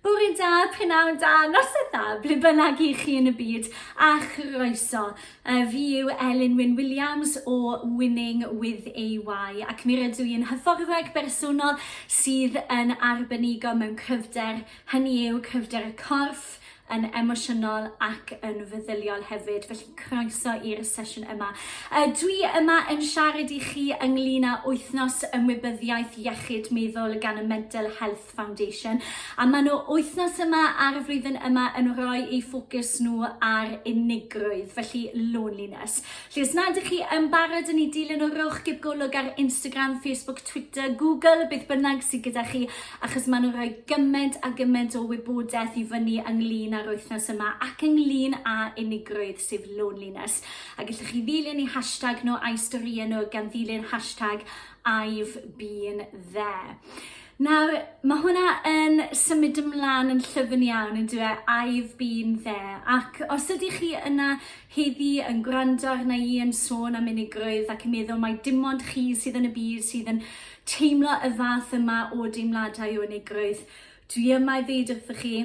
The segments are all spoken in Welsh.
Bore da, prynawn da, noson da, ble bynnag i chi yn y byd, a chroeso. Uh, fi yw Elin Wyn Williams o Winning with AY, ac mi rydw i'n hyfforddwraig bersonol sydd yn arbenigo mewn cryfder, hynny yw cryfder y corff, yn emosiynol ac yn feddyliol hefyd, felly croeso i'r sesiwn yma. Uh, dwi yma yn siarad i chi ynglyn â wythnos ymwybyddiaeth iechyd meddwl gan y Mental Health Foundation, a maen nhw wythnos yma ar y flwyddyn yma yn rhoi eu ffocws nhw ar unigrwydd, felly loneliness. Felly os nad ydych chi yn barod yn ei dilyn o rowch gib golwg ar Instagram, Facebook, Twitter, Google, beth bynnag sydd gyda chi, achos maen nhw'n rhoi gymaint a gymaint o wybodaeth i fyny ynglyn â'r wythnos yma ac ynglyn â unigrwydd, sef loneliness. A gallwch chi ddilyn eu hashtag nhw a'u storïau nhw gan ddilyn hashtag I've been there. Nawr, mae hwnna yn symud ymlaen yn llyfn iawn yn dweud I've been there ac os ydych chi yna heddi yn gwrando arna i yn sôn am unigrwydd ac yn meddwl mai dim ond chi sydd yn y byd sydd yn Teimlo y fath yma o deimladau o unigrwydd. Dwi yma i ddeud wrthoch chi,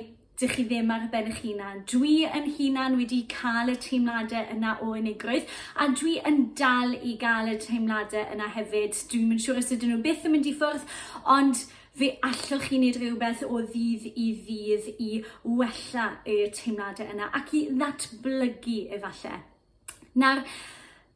dych chi ddim ar ben eich hunan. Dwi yn hunan wedi cael y teimladau yna o unigrwydd, a dwi yn dal i gael y teimladau yna hefyd. Dwi'n mynd siŵr os ydyn nhw byth yn mynd i ffwrdd, ond fe allwch chi wneud rhywbeth o ddydd i ddydd i wella y teimladau yna ac i ddatblygu efallai. Nawr,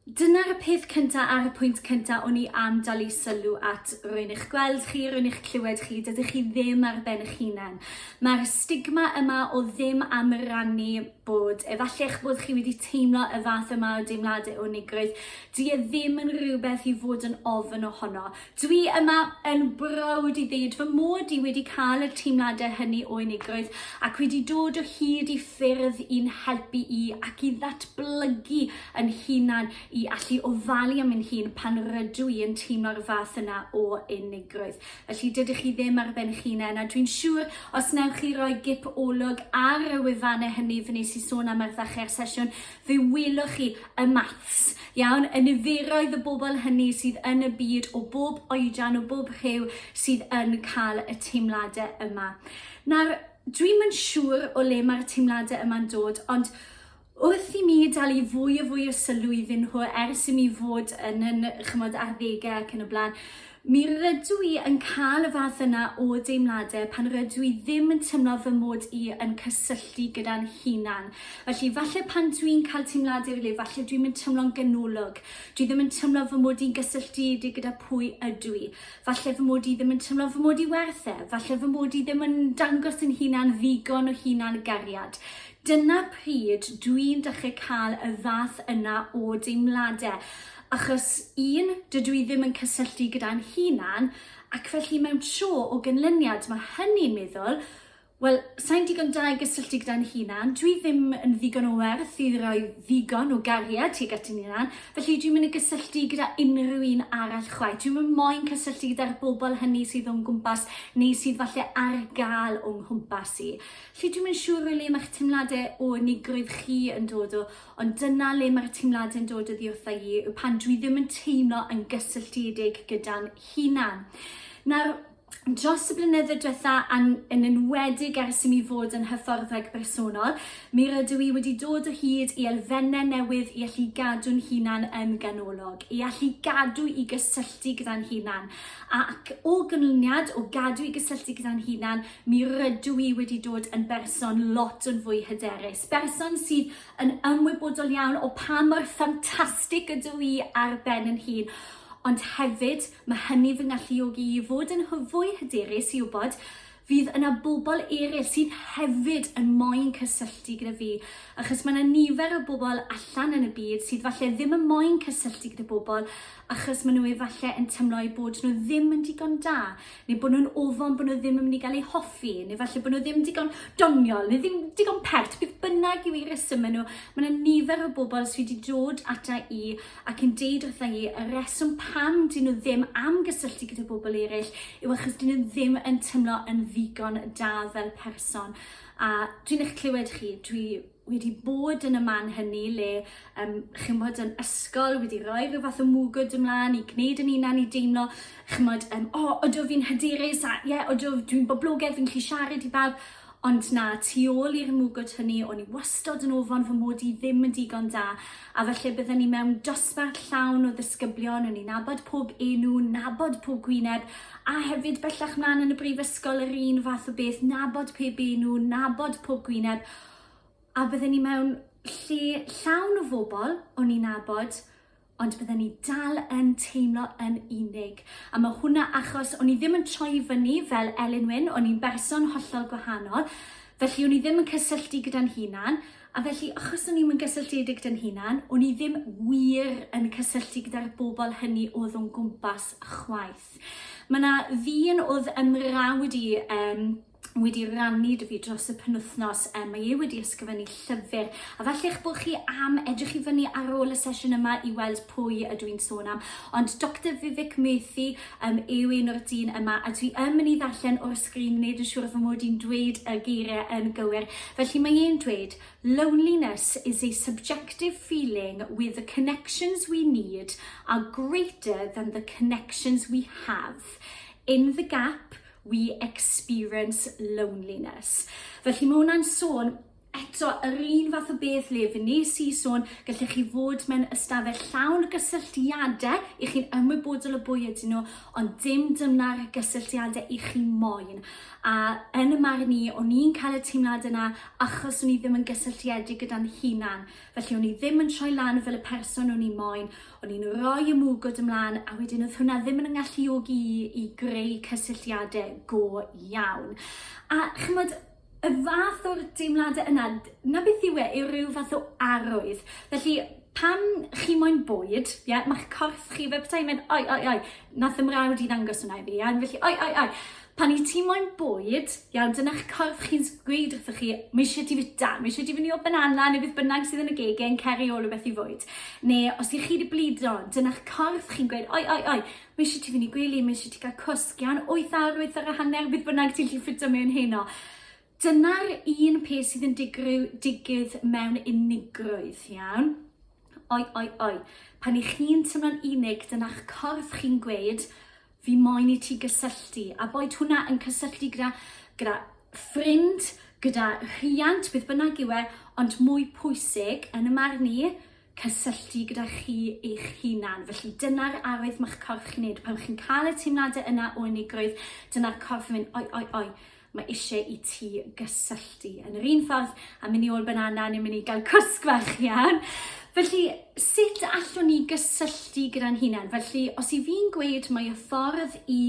dyna'r peth cynta a'r y pwynt cynta o'n i am dalu sylw at rwy'n eich gweld chi, rwy'n eich clywed chi, dydych chi ddim ar ben eich hunain. Mae'r stigma yma o ddim am rannu bod, efallai eich bod chi wedi teimlo y fath yma o deimladau o nigrwydd, di e ddim yn rhywbeth i fod yn ofyn ohono. Dwi yma yn browd i ddweud fy mod i wedi cael y teimladau hynny o unigrwydd ac wedi dod o hyd i ffyrdd i'n helpu i ac i ddatblygu yn hunan i allu ofalu am yn hun pan rydw i yn teimlo'r fath yna o unigrwydd. Felly dydych chi ddim ar ben chinen a dwi'n siŵr os newch chi roi gip olwg ar y wefannau hynny fy nes i sôn am arddachu ar sesiwn Fe welwch chi y maths, iawn, y niferoedd y bobl hynny sydd yn y byd o bob oedran, o bob rhyw, sydd yn cael y teimladau yma. Nawr, dwi'm yn siŵr o le mae'r teimladau yma'n dod, ond wrth i mi dalu fwy a fwy o sylw iddyn nhw ers i mi fod yn yn chymod arddegau ac yn y blaen, Mi rydw i yn cael y fath yna o deimladau pan rydw i ddim yn teimlo fy mod i yn cysylltu gyda'n hunan. Felly, falle pan dw i'n cael teimladau fel hyn, falle dwi'm yn teimlo'n ganolog, dwi ddim yn teimlo fy mod i'n gysylltiedig gyda pwy ydw i. Falle fy mod i ddim yn teimlo fy mod i werth e, falle fy mod i ddim yn dangos yn hunan ddigon o hunan gariad. Dyna pryd dw i'n dechrau cael y fath yna o deimladau. Achos, un, dydw i ddim yn cysylltu gyda'n hunan, ac felly mewn tro o gynlyniad mae hynny'n meddwl, wel, sain digon da i gysylltu gyda'n hunan, dwi ddim yn ddigon o werth i roi ddigon o gariad tuag at yn hunan, felly dwi'n mynd i gysylltu gyda unrhyw un arall chwaith. Dwi'n mynd moyn cysylltu gyda'r bobl hynny sydd o'n gwmpas neu sydd falle ar gael o'n nghwmpas i. Felly dwi'n mynd siŵr o le mae'ch teimladau o unigrwydd chi yn dod o, Ond dyna le mae'r teimladau'n dod oddi wrtha i, yw pan dwi ddim yn teimlo yn gysylltiedig gyda'n hunan. Nawr, dros y blynydde diwetha, a'n yn enwedig ers i mi fod yn hyfforddwraig bersonol, mi rydw i wedi dod o hyd i elfennau newydd i allu gadw'n hunan yn ganolog, i allu gadw i gysylltu gyda'n hunan. Ac o ganlyniad, o gadw i gysylltu gyda'n hunan, Mi rydw i wedi dod yn berson lot yn fwy hyderus, berson sydd yn ymwybodol iawn o pa mor ffantastig ydw i ar ben yn hun, ond hefyd mae hynny fy ngalluogi i fod yn fwy hyderus i wybod fydd yna bobl eraill sydd hefyd yn moyn cysylltu gyda fi, achos mae yna nifer o bobl allan yn y byd sydd falle ddim yn moyn cysylltu gyda bobl achos maen nhw efallai yn teimlo eu bod nhw ddim yn digon da. neu bod nhw'n ofon bod nhw ddim yn mynd i gael eu hoffi, neu falle bod nhw ddim digon doniol, neu ddim digon pert, beth bynnag yw i reswm nhw, mae yna nifer o bobl sydd wedi dod ata i ac yn deud wrtha i y reswm pam dyn nhw ddim am gysylltu gyda bobl eraill yw achos dyn nhw ddim yn teimlo yn ddigon da fel person. A dwi'n eich clywed chi, dwi wedi bod yn y man hynny le um, chymod yn ysgol wedi rhoi rhyw fath o mwgwd ymlaen i gwneud yn unan i deimlo chymod um, o oh, odw fi'n hyderus a ie yeah, odw dwi'n boblogaidd fi'n gallu siarad i bawb ond na tu ôl i'r mwgwd hynny o'n i wastod yn ofon fy mod i ddim yn digon da a falle bydden ni mewn dosbarth llawn o ddysgyblion o'n i'n nabod pob enw nabod pob gwyneb a hefyd bellach mlaen yn y brifysgol yr un fath o beth nabod pe enw nabod pob gwyneb A bydden ni mewn lle llawn o fobl o'n i'n abod, ond bydden ni dal yn teimlo yn unig. A mae hwnna achos o'n i ddim yn troi fyny fel Elin Wyn, o'n i'n berson hollol gwahanol, felly o'n i ddim yn cysylltu gyda'n hunan, a felly achos o'n i'm yn gysylltiedig gyda'n hunan, o'n i ddim wir yn cysylltu gyda'r bobl hynny oedd o'n gwmpas chwaith. Mae yna ddyn oedd ymrawd i um, wedi rannu dy fi dros y penwthnos. Um, mae e wedi ysgrifennu llyfr, a felly eich bod chi am edrych i fyny ar ôl y sesiwn yma i weld pwy ydw i'n sôn am. Ond Dr Vivek Murthy um, yw un o'r dyn yma, a dwi yn mynd i ddarllen o'r sgrin, wneud yn siŵr fy mod i'n dweud y geiriau yn gywir. Felly mae e'n dweud, loneliness is a subjective feeling with the connections we need are greater than the connections we have. In the gap, We experience loneliness. Felly mae hwnna'n sôn eto yr un fath o beth le fe nes i sôn gallech chi fod mewn ystafell llawn y gysylltiadau i chi'n ymwybodol o bwy ydyn nhw ond dim dyna'r gysylltiadau i chi moyn a yn y marn i o'n i'n cael y teimlad yna achos o'n i ddim yn gysylltiedig gyda'n hunan felly o'n i ddim yn troi lan fel y person o'n i moyn O'n i'n rhoi y mwgwd ymlaen a wedyn oedd hwnna ddim yn ngalluogi i i greu cysylltiadau go iawn. A chymod, y fath o'r deimladau yna, na beth yw e, yw rhyw fath o arwydd. Felly, pan chi moyn bwyd, ie, mae'ch corff chi fel petai yn mynd, oi, oi, oi, nath ymrawd i ddangos hwnna i fi, ie, felly, oi, oi, oi. Pan i ti moyn bwyd, iawn, dyna'ch corff chi'n gweud wrthych chi, mae eisiau ti fita, mae eisiau ti fyny o banana neu beth bynnag sydd yn y gege yn ceri ôl o beth i fwyd. Neu os i chi wedi blido, dyna'ch corff chi'n gweud, oi, oi, oi, mae eisiau ti fyny gwely, mae eisiau ti gael cwsg, iawn, 8 awr, 8 awr a hanner, beth bynnag ti'n lli ffitio mewn heno. Dyna'r un peth sydd yn digryw, digydd mewn unigrwydd, iawn? Oi, oi, oi. Pan i chi'n tymlo'n unig, dyna'ch corff chi'n gweud, fi moyn i ti gysylltu. A boed hwnna yn cysylltu gyda, gyda ffrind, gyda rhiant, beth bynnag yw e, ond mwy pwysig, yn y marn i, cysylltu gyda chi eich hunan. Felly dyna'r arwydd ma'ch corff chi'n neud. Pan chi'n cael y teimladau yna o unigrwydd, dyna'r corff yn mynd, oi, oi, oi, mae eisiau i ti gysylltu. Yn yr un ffordd, a mynd i ôl banana, ni'n mynd i gael cwsg fach iawn. Felly, sut allwn ni gysylltu gyda'n hunan? Felly, os i fi'n gweud mae y ffordd i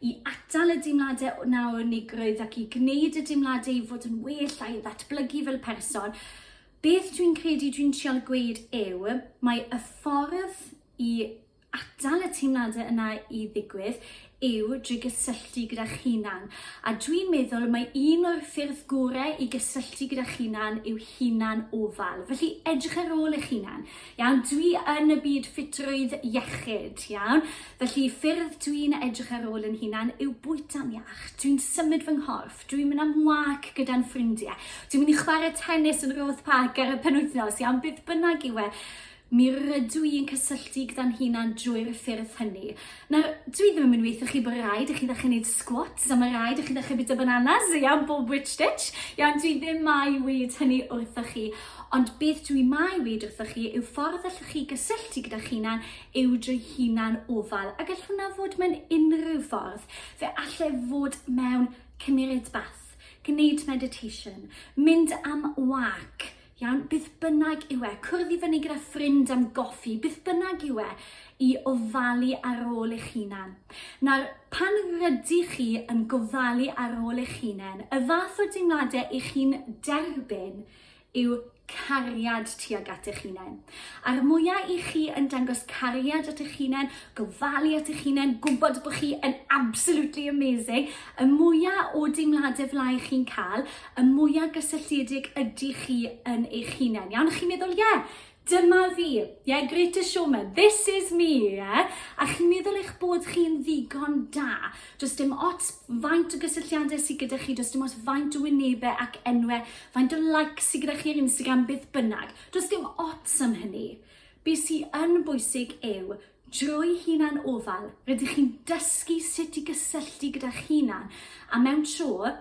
i atal y dimladau yna o unigrwydd ac i gwneud y dimladau i fod yn well a'i ddatblygu fel person, Beth dwi'n credu dwi'n trial gweud yw, mae y ffordd i atal y teimladau yna i ddigwydd yw drwy gysylltu gyda'ch hunan. A dwi'n meddwl mae un o'r ffyrdd gorau i gysylltu gyda'ch hunan yw hunan ofal. Felly edrych ar ôl eich hunan. Iawn, dwi yn y byd ffitrwydd iechyd, iawn? Felly ffyrdd dwi'n edrych ar ôl yn hunan yw bwyta'n iach. Dwi'n symud fy nghorff. Dwi'n mynd am wâc gyda'n ffrindiau. Dwi'n mynd i chwarae tennis yn Roath Park ar y penwythnos iawn beth bynnag yw e. Mi rydw i'n cysylltu gyda'n hunan drwy'r ffyrdd hynny. Nawr, dwi ddim yn mynd i weithio chi bod rhaid i chi ddechrau gwneud squats a mae rhaid i chi ddechrau bita bananas i am bob witch ditch. Iawn, dwi ddim mai weid hynny wrthoch chi. Ond beth dwi mai weid wrthoch chi yw ffordd allwch chi gysylltu gyda chi'na'n yw drwy hunan ofal a gallwn na fod mewn unrhyw ffordd. Fe alle fod mewn cymured bath, gwneud meditation, mynd am wâc, iawn, beth bynnag yw e, cwrdd i fyny gyda ffrind am goffi, beth bynnag yw e, i ofalu ar ôl eich hunan. Nawr, pan rydych chi yn gofalu ar ôl eich hunain, y fath o deimladau i chi'n derbyn yw cariad tuag at eich hunain. A'r mwya i chi yn dangos cariad at eich hunain, gofalu at eich hunain, gwybod bod chi yn absolutely amazing, y mwya o deimladau fel ai chi'n cael, y mwya gysylltiedig ydy chi yn eich hunain. Iawn, chi'n meddwl, ie, yeah, Dyma fi, yeah, greatest showman, this is me, yeah? A chi'n meddwl eich bod chi'n ddigon da. Does dim ots faint o gysylltiadau sydd gyda chi, does dim ots faint o wynebau ac enwau, faint o like sydd gyda chi ar Instagram beth bynnag. Does dim ots am hynny. Be sy'n yn bwysig yw drwy hunan ofal, rydych chi'n dysgu sut i gysylltu gyda chi'n a mewn tro,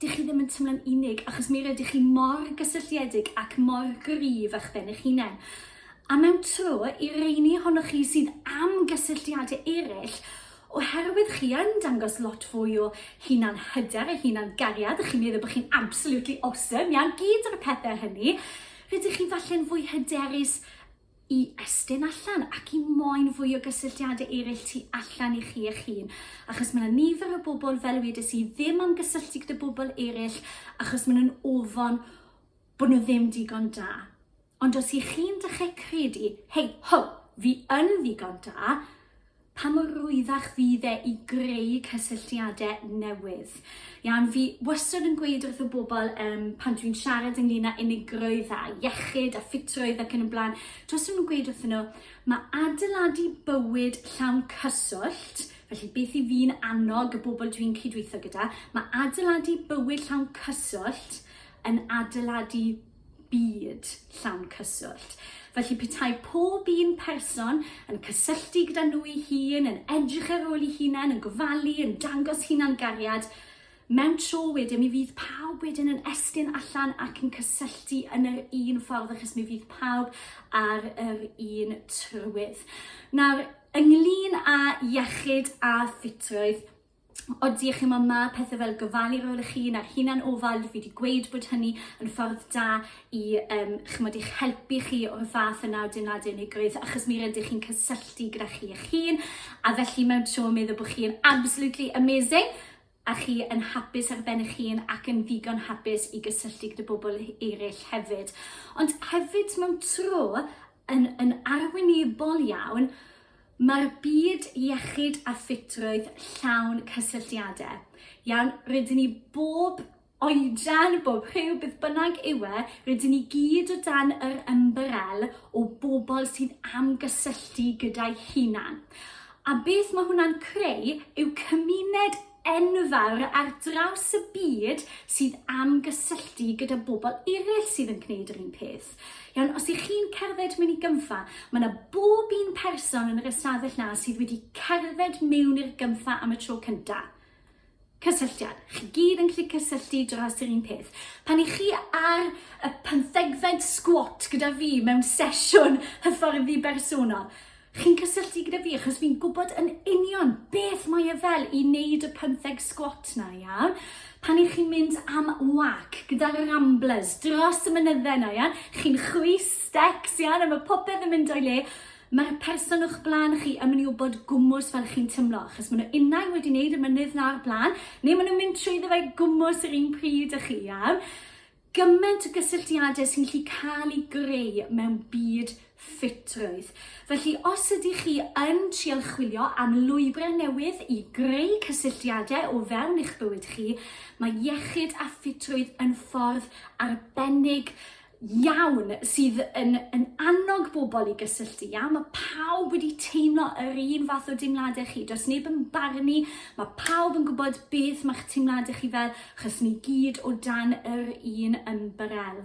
Dych chi ddim yn teimlo'n unig, achos mi rydych chi mor gysylltiedig ac mor gryf â'ch ben eich hunain. A mewn tro, i reini ohonoch chi sydd am gysylltiadau eraill, oherwydd chi yn dangos lot fwy o hunan hyder a hunan gariad, a chi'n meddwl bod chi'n absolutely awesome, iawn, gyd o'r pethau hynny, rydych chi falle'n fwy hyderus i estyn allan ac i moyn fwy o gysylltiadau eraill tu allan i chi eich hun. Achos mae yna nifer o bobl, fel wedes i, ddim am gysylltu gyda bobl eraill achos maen nhw'n ofon bod nhw ddim digon da. Ond os ych chi'n dechrau credu, hei, ho, fi yn ddigon da, Pa mor rwyddach fydd e i greu cysylltiadau newydd? Iawn, fi wastad yn gweud wrth y bobl um, pan dwi'n siarad ynglyn â unigrwydd a iechyd a ffitrwydd ac yn y blaen, dros yn gweud wrth nhw, mae adeiladu bywyd llawn cyswllt Felly beth i fi'n annog y bobl dwi'n cydweithio gyda, mae adeiladu bywyd llawn cyswllt yn adeiladu byd llawn cyswllt. Felly petai pob un person yn cysylltu gyda nhw'i hun, yn edrych ar ôl ei hunain, yn gofalu, yn dangos hunan gariad, mewn tro wedyn mi fydd pawb wedyn yn estyn allan ac yn cysylltu yn yr un ffordd achos mi fydd pawb ar yr un trywydd. Nawr, ynglyn â iechyd a ffitrwydd, Odi, chimod, mae pethau fel gofalu rôl eich hun a'r hunan ofal, fi wedi gweud bod hynny yn ffordd da i um, chymod, eich helpu chi o'r fath yna o deimlad unigrwydd, achos mi rydych chi'n cysylltu gyda chi eich hun, a felly mewn tro meddwl bod chi'n absolutely amazing, a chi yn hapus ar ben eich hun ac yn ddigon hapus i gysylltu gyda bobl eraill hefyd. Ond hefyd mewn tro, yn, yn arwynebol iawn, Mae'r byd iechyd a ffitrwydd llawn cysylltiadau iawn, rydyn ni bob oedran, bob rhyw, beth bynnag yw e, rydyn ni gyd o dan yr ymbarel o bobl sydd am gysylltu gyda'i hunan. A beth mae hwnna'n creu yw cymuned enfawr ar draws y byd sydd am gysylltu gyda bobl eraill sydd yn gwneud yr un peth. Iawn, os ych chi'n cerdded mewn i gynfa, mae yna bob un person yn yr ystafell na sydd wedi cerdded mewn i'r gynfa am y tro cyntaf cysylltiad. Chi gyd yn gallu cysylltu dros yr un peth. Pan i chi ar y pynthegfed sgwat gyda fi mewn sesiwn hyfforddi bersonol, Chi'n cysylltu gyda fi achos fi'n gwybod yn union beth mae e fel i wneud y pymtheg sgwat 'na, ia? Pan 'y chi'n mynd am wâc gyda ramblers dros y mynydde 'na, ia? Chi'n chwys stecs, ia? A ma' popeth yn mynd o'i le. Ma'r person o'ch blaen chi yn myn' i wbod gwmws fel chi'n tymlo, achos ma' nw unai wedi neud y mynydd 'na o'r bla'n, ne' ma' nw'n mynd trwyddo fe gwmws yr un pryd â chi, ia? Gymaint o gysylltiadau sy'n gallu cael eu greu mewn byd ffitrwydd. Felly, os ydych chi yn trial chwilio am lwybrau newydd i greu cysylltiadau o fewn eich bywyd chi, mae iechyd a ffitrwydd yn ffordd arbennig iawn sydd yn, yn annog bobl i gysylltu. Iawn, mae pawb wedi teimlo yr un fath o deimladau chi. Does neb yn barnu, mae pawb yn gwybod beth mae'ch teimladau chi fel, Chos ni gyd o dan yr un ymbarel.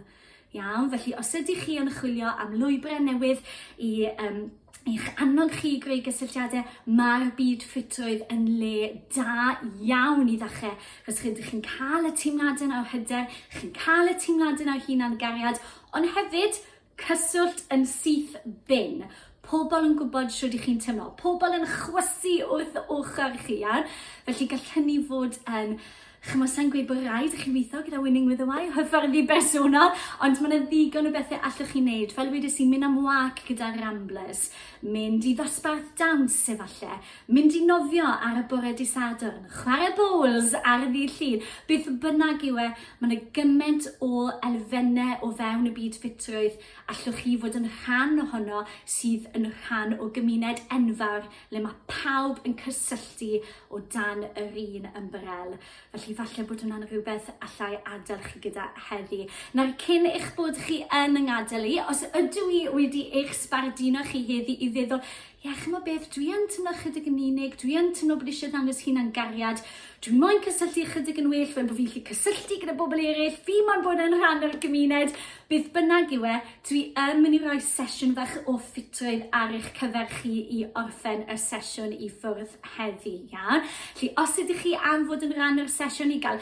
Iawn, felly os ydych chi yn chwilio am lwybrau newydd i um, i'ch annog chi i greu gysylltiadau, mae'r byd ffitrwydd yn le da iawn i ddechrau, chos rydych chi'n cael y teimladau yna o hyder, chi'n cael y teimladau yna o hunan gariad, ond hefyd Cyswllt yn syth bin. Pobl yn gwybod shwd i chi'n teimlo. Pobl yn chwysu wrth ochr chi, iawn? Felly gall hynny fod yn chymod, sa'n gweud bod rhaid i chi weithio gyda Winning with a Y, hyfforddi bersonol, ond mae yna ddigon o bethau allwch chi wneud. Fel wedes i, mynd am wac gyda Ramblers, mynd i ddosbarth dawns efallai, mynd i nofio ar y bore disadwrn, chwarae bowls ar y ddydd llun, beth bynnag yw e, Mae yna gymaint o elfennau o fewn y byd ffitrwydd allwch chi fod yn rhan ohono sydd yn rhan o gymuned enfawr le mae pawb yn cysylltu o dan yr un ymbarel. Felly falle bod hwnna'n rhywbeth allai adael chi gyda heddi. Nawr cyn eich bod chi yn yng ngadael i, os ydw i wedi eich sbarduno chi heddi i feddwl Ie, chimod beth, dwi yn teimlo ychydig yn unig, dwi yn teimlo bod eisiau dangos hunan gariad, dwi moyn cysylltu ychydig yn well fel bod fi'n gallu cysylltu gyda bobl eraill, fi moyn bod yn rhan o'r gymuned, beth bynnag yw e, dwi yn mynd i roi sesiwn fach o ffitrwydd ar eich cyfer chi i orffen y sesiwn i ffwrdd heddi, iawn? Felly os ydych chi am fod yn rhan o'r sesiwn i gael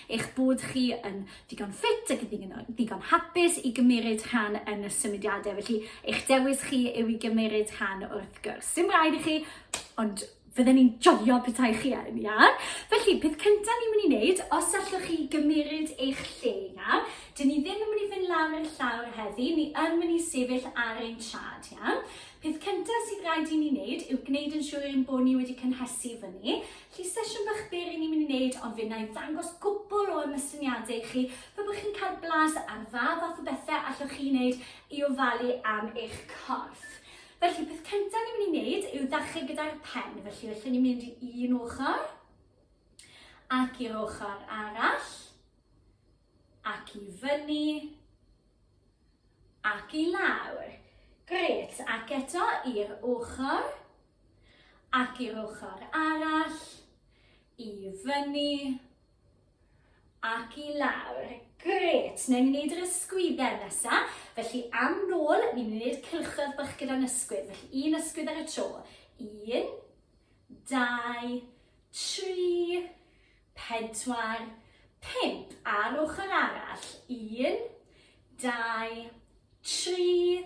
eich bod chi yn ddigon ffit ac yn ddigon hapus i gymeryd rhan yn y symudiadau. Felly, eich dewis chi yw i gymeryd rhan wrth gwrs. Dim rhaid i chi, ond fydden ni'n joio petai chi yn, ia? Felly, peth cyntaf ni'n mynd i wneud, os allwch chi gymeryd eich lle, ia? Dyn ni ddim yn mynd i fynd lawr i'r llawr heddi, ni yn mynd i sefyll ar ein trad, ia? Peth cyntaf sydd rhaid i ni wneud yw gwneud yn siŵr ein bod ni wedi cynhesu fyny. Felly sesiwn bach byr i ni'n mynd i wneud ond fe wna i ddangos gwbl o ymysyniadau i chi fe bod chi'n cael blas ar dda fath o bethau allwch chi wneud i ofalu am eich corff. Felly peth cyntaf ni'n mynd i wneud yw ddechrau gyda'r pen felly felly ni'n mynd i un ochr ac i'r ochr arall ac i fyny ac i lawr. Gret, ac eto i'r ochr Ac i'r ochr arall, i fyny, ac i lawr. Grêt! Newn ni wneud yr ysgwydden nesa. Felly, am nôl, ni'n mynd i wneud cylchoedd bach gyda'n ysgwydd. Felly, un ysgwydd ar y tro. Un, dau, tri, pedwar, pump. A'r ochr arall. Un, dau, tri,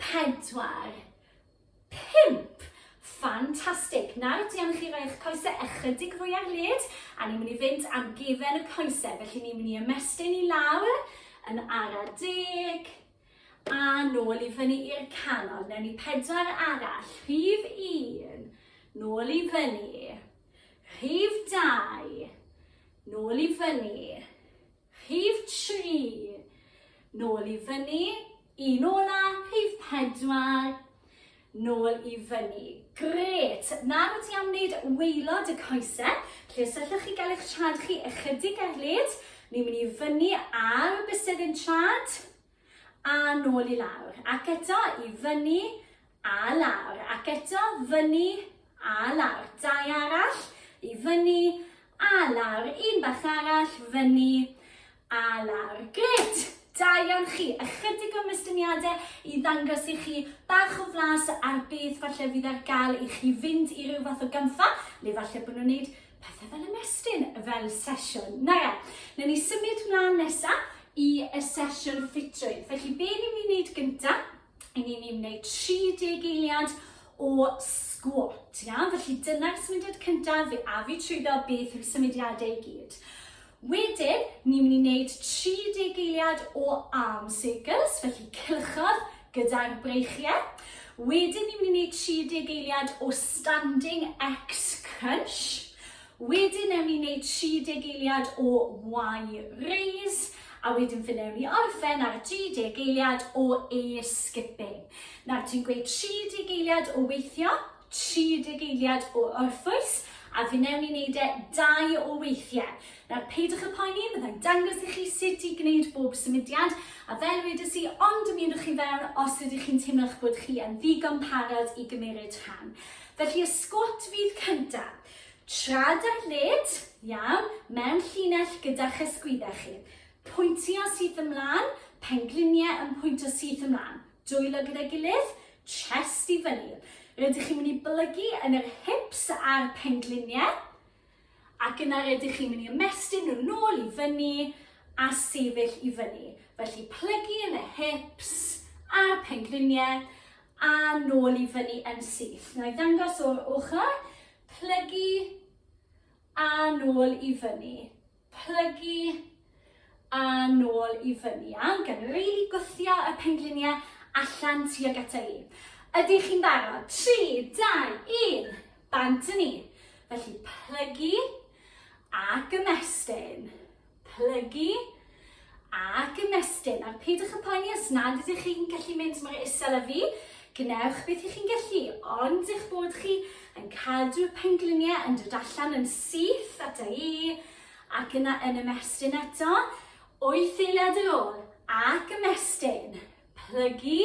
pedwar, pump. Ffantastig! Nawr, dwi am i chi roi eich coesau ychydig fwy ar led, a ni'n mynd i fynd am gefen y coesau. Felly ni'n mynd i ymestyn i lawr, yn ara deg, a nôl i fyny i'r canol. Newn ni pedwar arall, rhif un, nôl i fyny, rhif dau, nôl i fyny, Rhif tri, nôl i fyny, un ola, rhif pedwar, nôl i fyny. Grêt! Nawr ti am wneud waelod y coesau, lle os allwch chi gael eich trad chi ychydig ar led, ni'n mynd i fyny ar y bysedd yn trad, A nôl i lawr, ac eto, i fyny, a lawr, ac eto, fyny, a lawr. Dau arall, i fyny, a lawr. Un bach arall, fyny, a lawr. Gret! Da iawn chi. Ychydig o mystyniadau i ddangos i chi bach o flas ar beth falle fydd ar gael i chi fynd i ryw fath o gampfa, le falle bod nhw'n wneud Pethau fel ymestyn, fel sesiwn. Na ia, na ni symud mlaen nesaf i y sesiwn ffitrwydd. Felly be ni'n mynd i wneud gyntaf? I ni'n mynd i wneud 30 eiliad o sgwot. Ia? Felly dyna'r symudiad cyntaf, fe a fi trwyddo beth yw symudiadau i gyd. Wedyn, ni'n mynd i wneud 30 eiliad o arm circles, felly cylchoedd gyda'r breichiau. Wedyn, ni'n mynd i wneud 30 eiliad o standing X crunch. Wedyn, newn ni wneud 30 eiliad o Y raise a wedyn fe newn ni orffen ar 30 geiliad o e-skipping. Nawr, ti'n gweud 30 geiliad o weithio, 30 eiliad o orffwys a fi newn ni wneud e dau o weithiau. Nawr peidiwch y poeni, byddai'n dangos i chi sut i gwneud bob symudiad a fel wedys i, ond ymunwch chi fewn os ydych chi'n teimlo'ch bod chi yn ddigon parod i gymryd rhan. Felly y sgwat fydd cyntaf. Trad ar led, iawn, mewn llinell gyda'ch ysgwyddau chi. Pwyntio syth ymlaen, pengliniau yn pwyntio syth ymlaen. Dwylo gyda'i gilydd, chest i fyny. Rydych chi'n mynd i blygu yn yr hips a'r pengliniau. Ac yna rydych chi'n mynd i ymestyn nhw nôl i fyny a sefyll i fyny. Felly plygu yn y hips a'r pengliniau a nôl i fyny yn syth. Na i ddangos o'r ochr, plygu a nôl i fyny. plygu a nôl i fyny. Iawn, gan rili gwthio y pengliniau allan tuag ata i. Ydych chi'n barod? 3, 2, 1, bant yn ni. Felly plygu ac ymestyn. Plygu Ac ymestyn, a peidiwch â phoeni os nad ydych chi'n gallu mynd mor isel â fi, gwnewch beth ych chi'n gallu, ond eich bod chi yn cadw y pengliniau yn dod allan yn syth ata i, ac yna yn ymestyn eto, wyth eiliad ar ôl, ac ymestyn, plygu,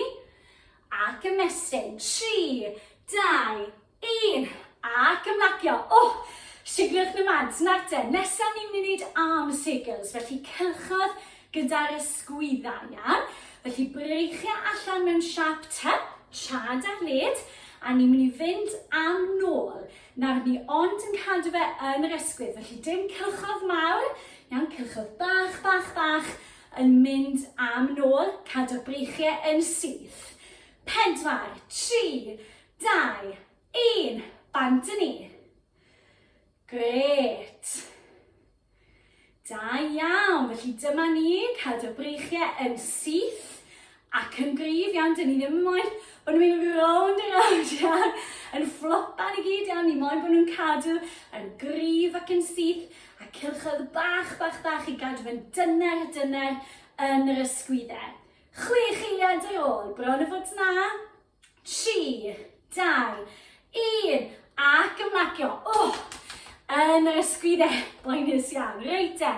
ac ymestyn, tri, dau, 1. Ac ymlacio. O! Sigliwch na mads. Nawr te, nesaf ni'n mynd i wneud arm circles, felly cylchodd gyda'r ysgwyddau, iawn? Felly breichio allan mewn siap te, chad ar led, a ni'n mynd i fynd am nôl. Nawr ni ond yn cadw fe yn yr ysgwydd, felly dim cylchodd mawr, iawn, cylchodd bach, bach, bach, yn mynd am nôl, cadw'r breichiau yn syth. Pedwar, tri, Dau, un, bant yn ni. Gret. Da iawn, felly dyma ni, cadw breichiau yn syth ac yn gryf iawn, dyn ni ddim yn moyn bod nhw'n mynd rownd yn rownd iawn, yn fflopan i gyd iawn, ni moyn bod nhw'n cadw yn gryf ac yn syth, a cilchoedd bach, bach, bach i gadw yn dyner, dyner yn yr ysgwyddau. Chwech eiliad ar ôl, bron o fod na, 3, 2, 1, ac ymlacio. Oh, yn yr ysgwydde, boenus iawn. Reit e,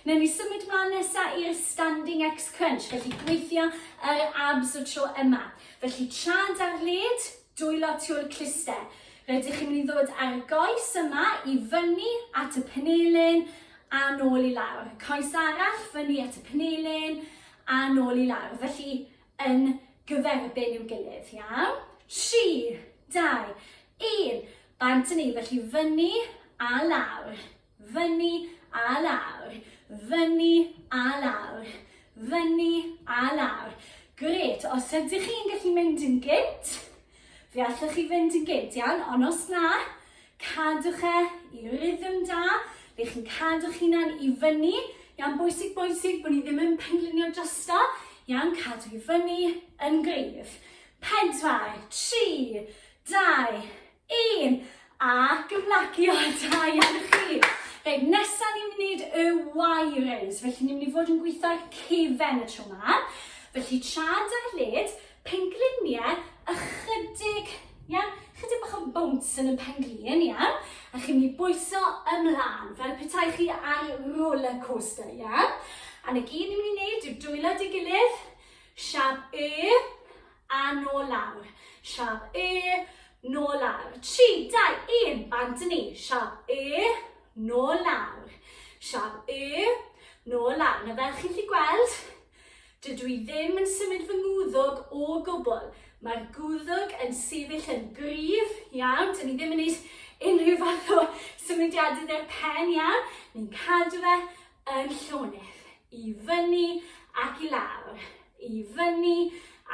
newn ni symud mlaen nesaf i'r standing X crunch, felly gweithio yr abs y tro yma. Felly trad ar led, dwylo tu'r cluster. Rydych chi'n mynd i ddod ar y goes yma i fyny at y penelin a nôl i lawr. Coes arall fyny at y penelin a nôl i lawr. Felly yn gyferbyn i'w gilydd, iawn? 3, 2, 1, bant yn ni, felly fyny a lawr, fyny a lawr, fyny a lawr, fyny a lawr. Gret, os ydych chi'n gallu mynd yn gynt, Fe allwch chi fynd yn gynt iawn, ond os na, cadwch e i rhythm da, lle chi'n cadw'ch hunan i fyny. Ia'n bwysig, bwysig bod ni ddim yn penglunio drosto. Ia'n cadw i fyny yn gryf. Pedwar, tri, dau, un, a gymlacio, da iawn i chi. Reit, nesaf ni'n mynd i wneud y Y-raise, felly ni'n mynd i fod yn gweithio ar cefen y tro yma. Felly tra da led, Pengliniau ychydig, iawn? Ychydig bach o bounce yn y penglin, iawn? A chi'n mynd i bwyso ymlaen, fel petai chi ar roller coaster, iawn? A na gyd ni'n mynd i wneud yw dwylo dy gilydd, siap y, a nôl lawr, siap y, nôl lawr. 3, 2, 1, bant yn ni, siap y, nôl lawr, siap y, nôl lawr. Na fel chi'n lli gweld, Dydw i ddim yn symud fy ngwddwg o gwbl. Mae'r gwddwg yn sefyll yn gryf iawn. Dyn ni ddim yn gwneud unrhyw fath o symudiadau dde'r pen iawn. Ni'n cadw fe yn llonydd. I fyny ac i lawr. I fyny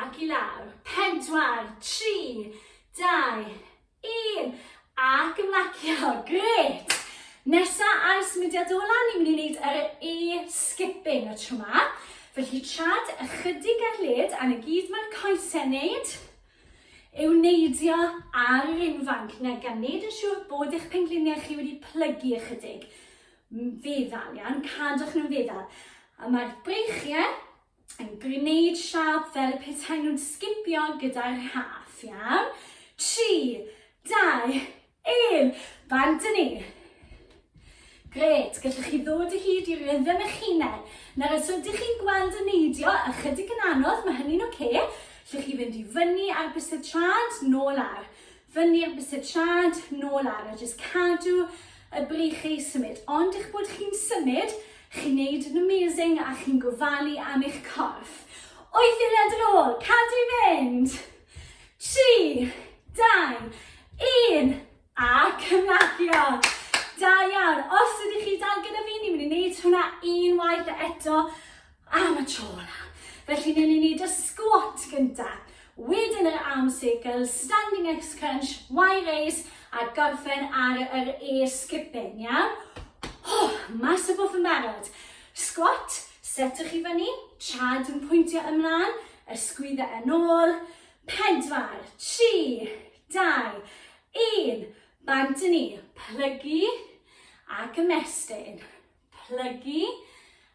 ac i lawr. Pedwar, tri, dau, Un! Ac ymlacio, gret! Nesa ar y symudiad o lan, ni'n mynd i wneud yr e-skipping y tro ma. Felly trad ychydig ar led, a na gyd mae'r coesau wneud yw neidio ar yr unfanc na gan wneud yn siŵr bod eich pengliniau chi wedi plygu ychydig. Feddal, iawn, cadwch nhw'n feddal. A mae'r breichiau yn gwneud siâp fel y petai nhw'n sgipio gyda'r haf, iawn? 3, 2, 1, bant yn ni. Gret, gallwch chi ddod o hyd i rhythm eich hunain. Nawr, os ydych chi'n gweld y neidio ychydig yn anodd, mae hynny'n oce. Okay. Llwch chi fynd i fyny ar bysedd trad, nôl ar. Fyny am bysetrad, nôl ar a jyst cadw y breichiau i symud. Ond eich bod chi'n symud, chi'n neud yn amazing a chi'n gofalu am eich corff. O'i ddiliad yn ôl, cadw i fynd. 3, 2, 1 a cymlacio. Da iawn. Os ydych chi dal gyda fi, ni'n mynd i wneud hwnna unwaith eto. Am y tro olaf. Felly newn ni neud y squat gynta. Wedyn yr arm circle, standing X crunch, Y raise, a gorffen ar yr E skipping, iawn? Oh, mas y bwff yn barod. Squat, setwch i fyny, trad yn pwyntio ymlaen, ysgwydda yn ôl, pedwar, tri, dau, un, bant yn ni, plygu ac ymestyn, plygu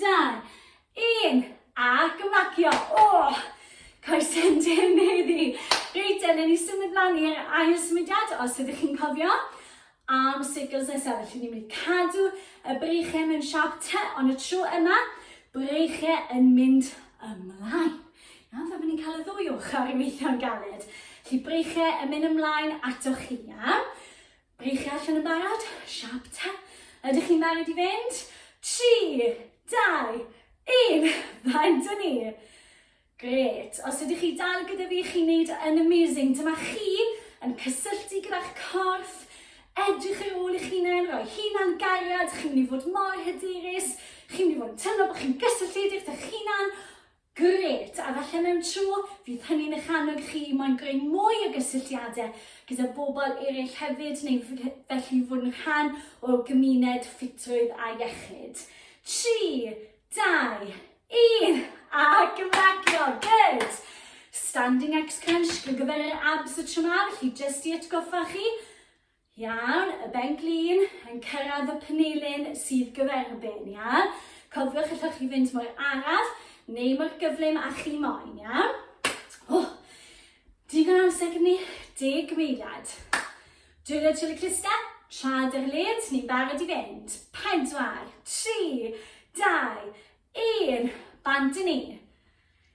Dau, un, a gymacio. O, coesau'n dim heddi. Reit, yna ni symud mlaen i'r ail symudiad, os ydych chi'n cofio. Arm circles nesaf, felly ni'n mynd cadw y breichiau mewn siap te, ond y tro yma, breichiau yn mynd ymlaen. Iawn, fe fyddwn ni'n cael y ddwy ochr i weithio'n galed. Felly breichiau yn mynd ymlaen atoch chi, iawn? Rych chi allan yn barod? Siap ta? Ydych chi'n barod i fynd? 3, 2, 1, fan dyn ni! Gret, os ydych chi dal gyda fi, chi'n neud yn amazing. Dyma chi yn cysylltu gyda'ch corff, edrych ar ôl eich hunain, rhoi hunan gariad, chi'n mynd i fod mor hyderus, chi'n mynd i fod yn teimlo bod chi'n gysylltiedig â'ch hunan, Grêt! A falle mewn tro, fydd hynny'n eich annog chi i moyn greu mwy o gysylltiadau gyda bobl eraill hefyd neu felly fod yn rhan o gymuned ffitrwydd a iechyd. Tri, dau, un, a gymragio! Good! Standing X Crunch gyfer yr abs y tro ma, felly jyst i atgoffa chi, Iawn, y ben-glin yn cyrraedd y penilyn sydd gyfer y ben, ia? Cofiwch allwch chi fynd mor araf neu mor gyflym a chi moyn, ia? O, digon amser gyda ni, deg meiliad. Dwylio chili crista, trad yr led, ni'n barod i fynd. Pedwar, tri, dau, un, bant i ni.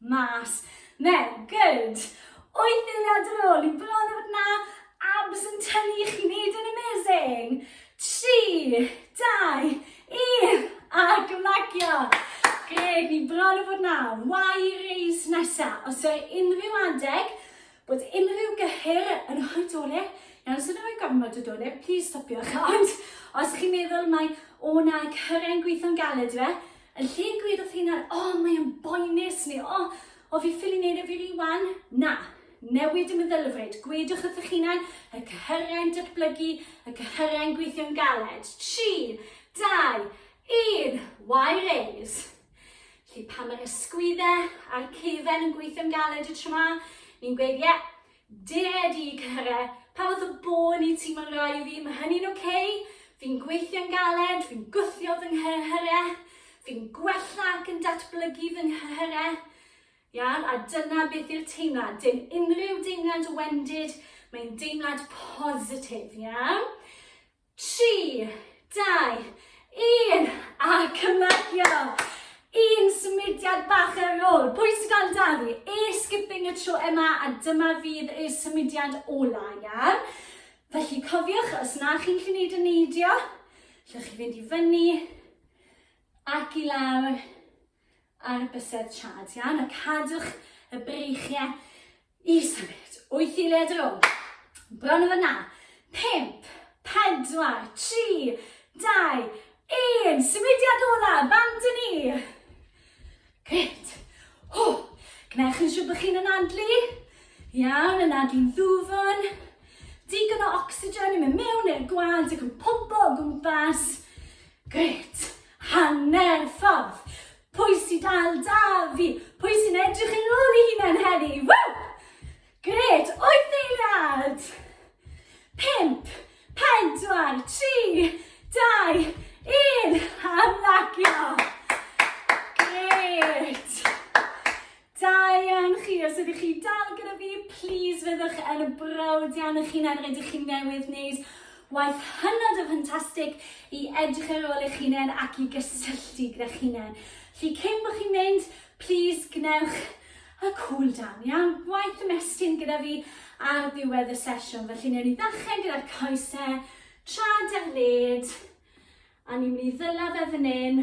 Mas. Mel, good! Wyth eiliad ar ôl i bron a bod 'na abs yn tynnu chi wneud yn amazing! Tri, dau, un, a gymlagio! Gred, ni bron a bod 'na. Why raise nesa? Os o'r unrhyw adeg bod unrhyw gyhyr yn rhoi dole, iawn, os ydyn rhoi gormod o dole, please stopiwch. Ond os chi'n meddwl mai, o na, cyhyr e'n gweithio'n galed yw e, Yn lle gweud wrth hunan, o, oh, mae'n boenus, neu o, oh, o fi ffili neud e fi rwan, na, newid y meddylfryd, gwedwch wrth eich hunan, y cyhyrau'n datblygu, y cyhyrau'n gweithio'n galed. 3, 2, 1, why raise? Felly pan mae'r ysgwyddau a'r cefen yn gweithio'n galed y tro ma, ni'n gweud, ie, yeah, Dear Dee Care, pa fath o bôn wyt ti mae'n rhai i fi, mae hynny'n ok, fi'n gweithio'n galed, fi'n gwthio fy nghyrhyrau, fi'n gwella ac yn datblygu fy nghyrhyrau, iawn, a dyna beth yw'r teimlad, dim unrhyw deimlad o wendid, mae'n deimlad positif, iawn? 3, 2, 1, a cymagio! Un symudiad bach ar ôl. Pwy sy'n gael da fi? E skipping y tro yma, a dyma fydd y symudiad ola, iawn? Felly cofiwch, os na chi'n gallu gwneud y neidio, lle chi fynd i fyny, ac i lawr, ar bysedd trad. Iawn, a cadwch y breichiau i symud. Wyth i led rôl. Bron o fyna. Pimp, pedwar, tri, dau, un. Symudiad ola, bant yn ni. Gret. Ho. Gwnewch yn siŵr bod chi'n anadlu. Iawn, anadlu'n ddwfwn. Digon o ocsigen yn mynd mewn i'r gwad ac yn pwmpo o gwmpas. Grêt! Hanner ffordd! Pwy sy'n dal 'da fi? Pwy sy'n edrych yn ôl i hunan heddi? Ww! Grêt! Wyth eiliad! Pimp, pedwar, tri, dau, un! Hamlacio! Grêt! Da iawn chi, os ydych chi dal gyda fi, please fyddwch yn brawd iawn eich hunan, rydych chi newydd wneud waith hynod o ffantastig i edrych ar ôl eich hunain ac i gysylltu gyda hunain. Felly cyn bod chi'n mynd, please gwnewch y cool down, iawn? Gwaith ymestyn gyda fi ar ddiwedd y sesiwn. Felly newn ni ddechrau gyda'r coesau, trad ar led, a ni'n mynd i ddyla fe fan hyn,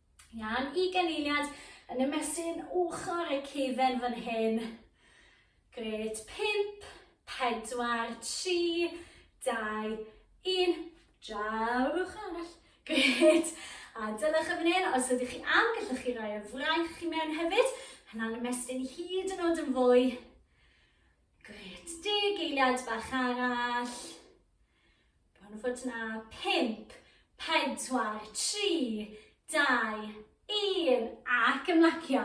Iawn, i ganlyniad yn ymestyn ochr y cefen fan hyn. Gret, 5, 4, 3, 2, 1, draw'r ochr arall. Gret, a dylech y fan hyn, os ydych chi am, gallwch chi roi y fraich chi mewn hefyd. Hynna'n ymestyn hyd yn oed yn fwy. Gret, deg eiliad bach arall. Bron yn fod 'na. Pump, pedwar, tri, dau, un, ac ymlacio.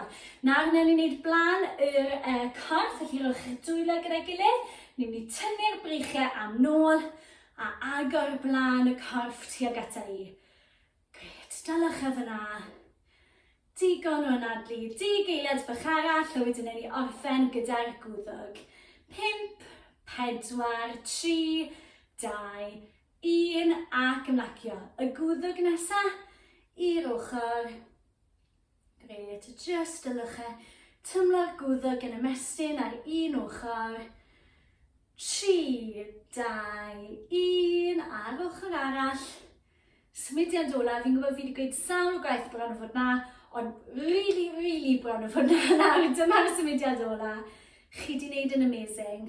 Nawr newn ni wneud blaen yr uh, corff, felly rhowch eich dwylo gyda'i gilydd. Ni'n mynd i tynnu'r breichiau am nôl a agor blaen y corff tuag ata i. Grêt, daliwch e fan'na. Digon o anadlu, deg eiliad bach arall a wedyn ewn ni orffen gyda'r gwddwg. Pump, pedwar, tri, dau, un, ac ymlacio. Y gwddwg nesa, i'r ochr. Grêt, a jyst y lychau. Tymlo'r gwddg yn ymestyn ar un ochr. 3, 2, 1, ar ochr arall. Symudiad olaf, fi'n gwybod fi wedi gweud sawl gwaith bron o fod na, ond really, really bron o fod na nawr. Dyma'r symudiad olaf. Chi wedi gwneud yn amazing.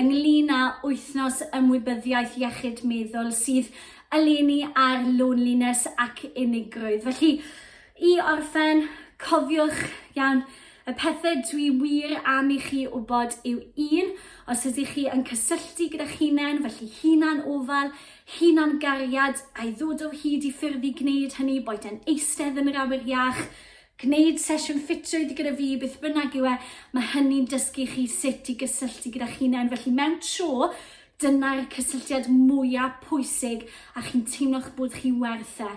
ynglŷn â Wythnos Ymwybyddiaeth Iechyd Meddwl sydd eleni ar loneliness ac unigrwydd. Felly, i orffen, cofiwch iawn y pethau dwi wir am i chi wybod yw un, os ydych chi yn cysylltu gyda'ch hunain, felly hunan ofal, hunan gariad, a'i ddod o hyd i ffyrdd i gwneud hynny, boed yn eistedd yn yr awyr iach, Gwneud sesiwn ffitrwydd gyda fi, beth bynnag yw e, mae hynny'n dysgu chi sut i gysylltu gyda'ch hunain. Felly mewn tro, dyna'r cysylltiad mwyaf pwysig a chi'n teimlo'ch bod chi werth e.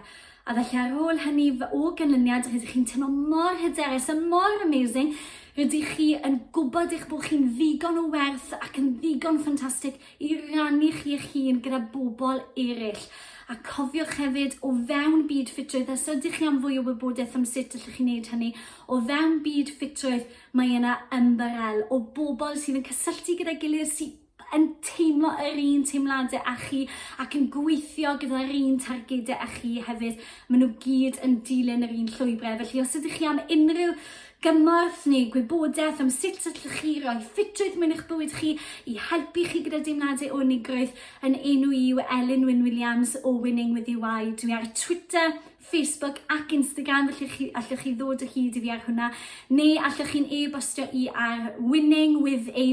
A felly ar ôl hynny, o ganlyniad, rydych chi'n teimlo mor hyderus a mor amazing, rydych chi yn gwybod eich bod chi'n ddigon o werth ac yn ddigon ffantastig i rannu chi eich hun gyda bobl eraill. A cofiwch hefyd, o fewn byd ffitrwydd, os ydych chi am fwy o wybodaeth am sut allwch chi wneud hynny, o fewn byd ffitrwydd mae yna ymbarel o bobl sydd yn cysylltu gyda'i gilydd sydd yn teimlo yr un teimladau â chi ac yn gweithio gyda'r un targedau â chi hefyd. Maen nhw gyd yn dilyn yr un llwybrau. Felly os ydych chi am unrhyw Gymorth neu gwybodaeth am sut allwch chi roi ffitrwydd mewn i'ch bywyd chi i helpu chi gyda deimladau unigrwydd, yn enw i yw Elin Wyn Williams o Winning With UI. Dwi ar Twitter, Facebook ac Instagram felly chi, allwch chi ddod o hyd i fi ar hwnna neu allwch chi'n e-bostio i ar winningwithy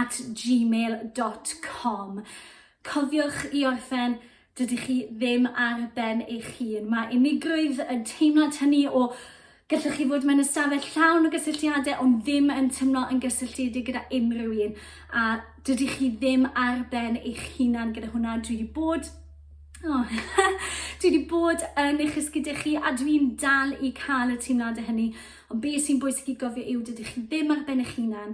at gmail.com. Cofiwch i orffen Dydych chi ddim ar ben eich hun. Mae unigrwydd yn teimlad hynny o gallwch chi fod mewn ystafell llawn o gysylltiadau ond ddim yn teimlo yn gysylltiedig gyda unrhyw un a dydych chi ddim ar ben eich hunan gyda hwnna. Dwi wedi bod Oh. dwi wedi bod yn eich ysgyd chi a dwi'n dal i cael y teimladau hynny. Ond be sy'n bwysig i gofio yw dydych chi ddim ar ben eich hunan.